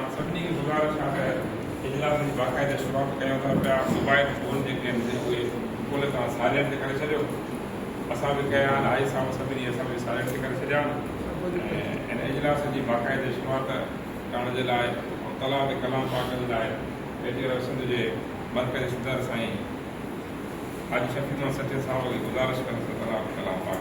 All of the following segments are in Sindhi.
توهان سڀني کي گذارش آهي ته اجلاسن جي باقاعدي شروعات ڪريون ٿا پيا موبائيل فون جيڪي آهن سي اهي کولي توهان سائلينٽ تي ڪري ڇڏيو اسان به ڪيا آهن آئي صاحب سڀني اسان به سائلينٽ تي ڪري ڇڏيا آهن ۽ ان اجلاسن جي باقاعدي شروعات ڪرڻ جي لاء ۽ طلعه تي ڪلام پاڪ جي لاء ريڊيو ريو سنڌ جي مرڪزي صدر سائين حاجي شفيق محمد سٺيء صاحب کي گذارش ڪندس ته طلعه تي ڪلام پاڪ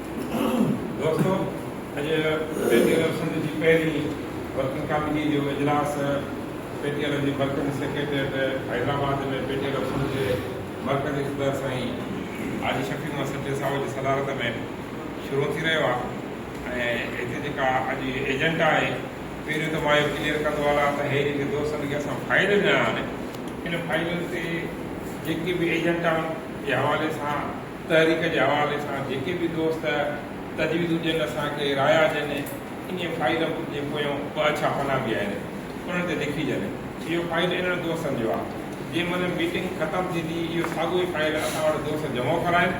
دوستو اڄ پيٽيل سنڌ جي پهرين ورڪنگ ڪاميٽي جو اجلاس پيٽيل جي مرڪزي سيڪريٽريٽ حيدرآباد ۾ پيٽيل سنڌ جي مرڪزي صدر سائين حاجي شفيق محمد سچي صاحب جي صدارت ۾ شروع ٿي رهيو آهي ۽ هتي جيڪا اڄ ايجنٽ آهي پهريون ته مان اهو ڪليئر ڪندو هلان ته هي جيڪي دوست جيڪي اسان فائل ڏنا آهن ان فائلن تي جيڪي به ايجنٽ آهن جي حوالي سان تحريڪ جي حوالي سان جيڪي به دوست تجويزون ڏين اسان کي رايا ڏين انهي فائيل جي پويان ٻه اڇا پنا به آهن انهن تي لکيجن اهو فائيل انهن دوستن جو آهي جنهن مهل ميٽنگ ختم ٿيندي اهو ساڳيو ئي فائيل اسان وٽ دوست جمع ڪرائن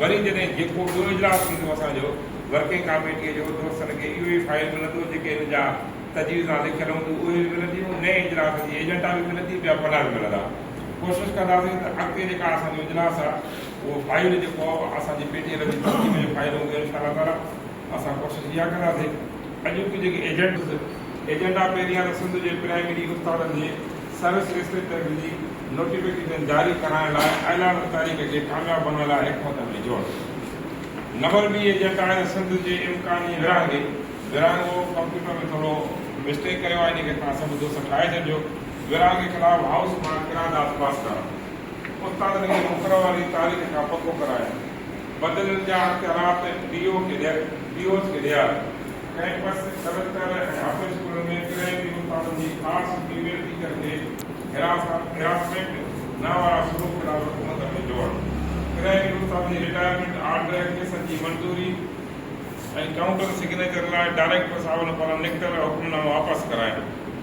وري جڏهن جيڪو ٻيو اجلاس ٿيندو اسان جو ورڪنگ ڪاميٽي جو دوستن کي اهو ئي فائيل ملندو جيڪي هن جا تجويزان لکيل هونديون اهي به ملنديون نئين اجلاس جي ايجنڊا به ملندي ٻيا پنا به ملندا. ڪوشش ڪنداسين ته اڳتي جيڪا اسان جي اجلاس آ اهو فائل جيڪو آ اسان جي پي ٽي ايل جي ترتيب جو فائل هوندو انشاء الله تعالي اسان ڪوشش اها ڪنداسين اڄوڪي جيڪي ايجنڊا ايجنڊا پهريان ته سنڌ جي پرائمري استادن جي سروس انسپيڪٽر جي نوٽيفڪيشن جاري ڪرائڻ لاء اعلان تاريخ کي ڪامياب بڻائڻ لاء حڪمت عملي جوڙ نمبر ٻي ايجنڊا آهي ته سنڌ جي امڪاني ورهاڱي ورهاڱو ڪمپيوٽر ۾ ٿورو مسٽيڪ ڪيو آ ان کي توهان سڀ دوست ٺاهي ڇڏجو. گران جي خلاف هائوس مان قرارداد پاس ڪرائڻ، استادن کي مقرر واري تاريخ کان پڪو ڪرائڻ، بدلن جا اختيارات ڊي او کي ڏيڻ، ڊي اوز کي ڏيارڻ، ڪئمپس، سيمسٽر ۽ هاف ڊي اسڪولن ۾ ڪرائي تي استادن جي آرٽس جي ويل ٽيچر کي هراسمينٽ نه وارا سلوڪ خلاف حڪومت ۾ جوڙڻ، ڪرائي تي استادن جي رٽائرمينٽ آرڊر ۽ ڪيسن جي منظوري ۽ ڪائونٽر سگنيچر لاء ڊائريڪٽر صاحبن پاران نڪتل حڪمنامو واپس ڪرائڻ.